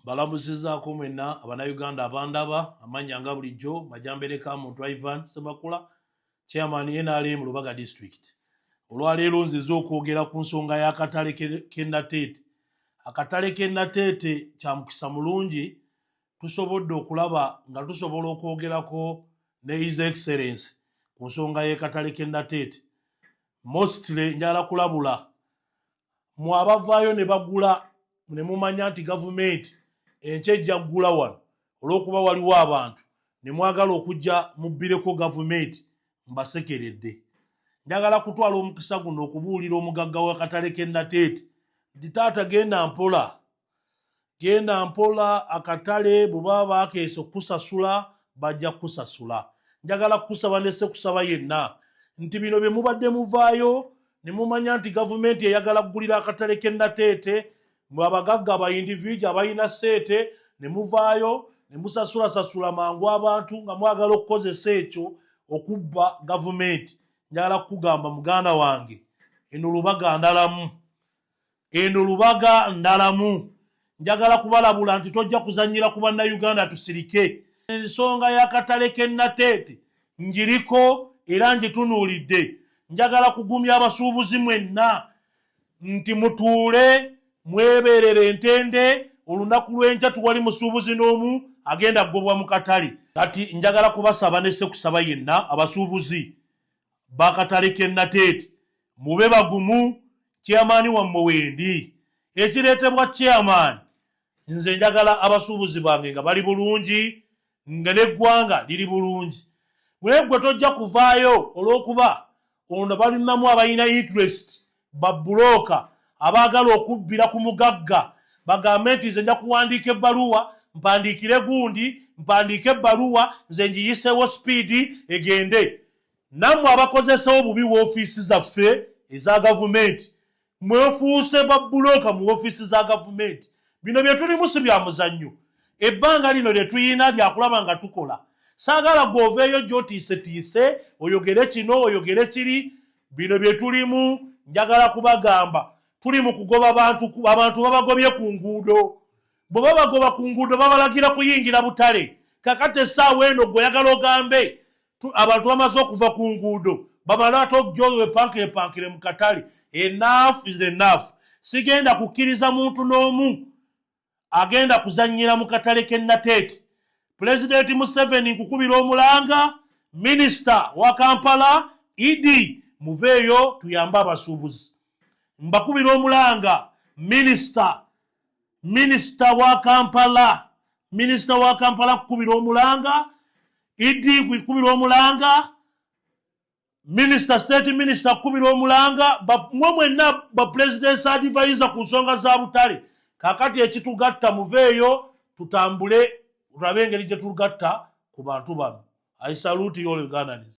mbalamuzizaako mwenna abanauganda abandaba amannya nga bulijjo majambereka muntu ivan semakula chairman nrm lubaga district olwaleero nziza okwogera ku nsonga y'akatale kenateete akatale kenateete kya mukisa mulungi tusobodde okulaba nga tusobola okwogerako ne his excellence ku nsonga y'ekatale kenateete mostly njala kulabula mwe abavaayo ne bagula ne mumanya nti gavumenti enkya ejja kugula wano olw'okuba waliwo abantu ne mwagala okujja mubbireko gavumenti mbasekeredde njagala kutwala omukisa guno okubuulira omugagga w'akatale k'e nateete nti taata genda mpola genda mpola akatale bwebaba bakeesa okukusasula bajja kukusasula njagala kukusaba nesekusaba yenna nti bino byemubadde muvaayo nemumanya nti gavumenti eyagala kugulira akatale kenateete mwe abagagga ba individu abalina seete nemuvaayo nemusasulasasula mangu abantu nga mwagala okukozesa ekyo okubba gavumenti njagala kukugamba muganda wange eno lubaga ndalamu Eno Lubaga ndalamu. Njagala kubalabula nti tojja kuzannyira ku Bannayuganda tusirike. Ensonga y'akatale k'e Nateete ngiriko era ngitunuulidde. Njagala kugumya abasuubuzi mwenna nti mutuule mwebeerere entende, olunaku lw'enkya tewali musuubuzi n'omu agenda kugobwa mu katale. Kati njagala kubasaba ne ssekusaba yenna abasuubuzi bakatale k'e Nateete mube bagumu chairman wammwe wendi. Ekireetebwa chairman nze njagala abasuubuzi bange nga bali bulungi nga n'eggwanga liri bulungi naye ggwe tojja kuvaayo olw'okuba ono balinamu abalina interest Babbulooka abaagala okubbira ku mugagga bagambe nti, Nze nja kuwandiika ebbaluwa, mpandiikire gundi, mpandiike ebbaluwa nze ngiyiseewo sipiidi egende. Nammwe abakozesa obubi woofiisi zaffe eza gavumenti mwefuuse babbulooka mu woofiisi za gavumenti. Bino bye tulimu si bya muzannyo. Ebbanga lino lye tulina lya kulaba nga tukola. Saagala ggwe oveeyo ojje otiisetiise, oyogere kino oyogere kiri. Bino bye tulimu njagala kubagamba tuli mu kugoba bantu abantu babagobye ku nguudo bwe babagoba ku nguudo babalagira kuyingira butale kakati essaawa eno gwe oyagala ogambe abantu bamaze okuva ku nguudo bamale ate okujoyo wepankirepankire mu katale enough is enough sigenda kukkiriza muntu n'omu agenda kuzannyira mu katale k'e Nateete. Pulezidenti Museveni nkukubira omulanga minisita wa Kampala Idi muveeyo tuyambe abasuubuzi. Mbakubira omulanga minisita minisita wa Kampala minisita wa Kampala kukubira omulanga Idi kukubira omulanga minisita state minisita kukubira omulanga mwe mwenna bapulezidensi adivayiza ku nsonga za butale kakati ekitugatta muveeyo tutambule tulabe engeri gye tugatta ku bantu bano i salute yol ugandanis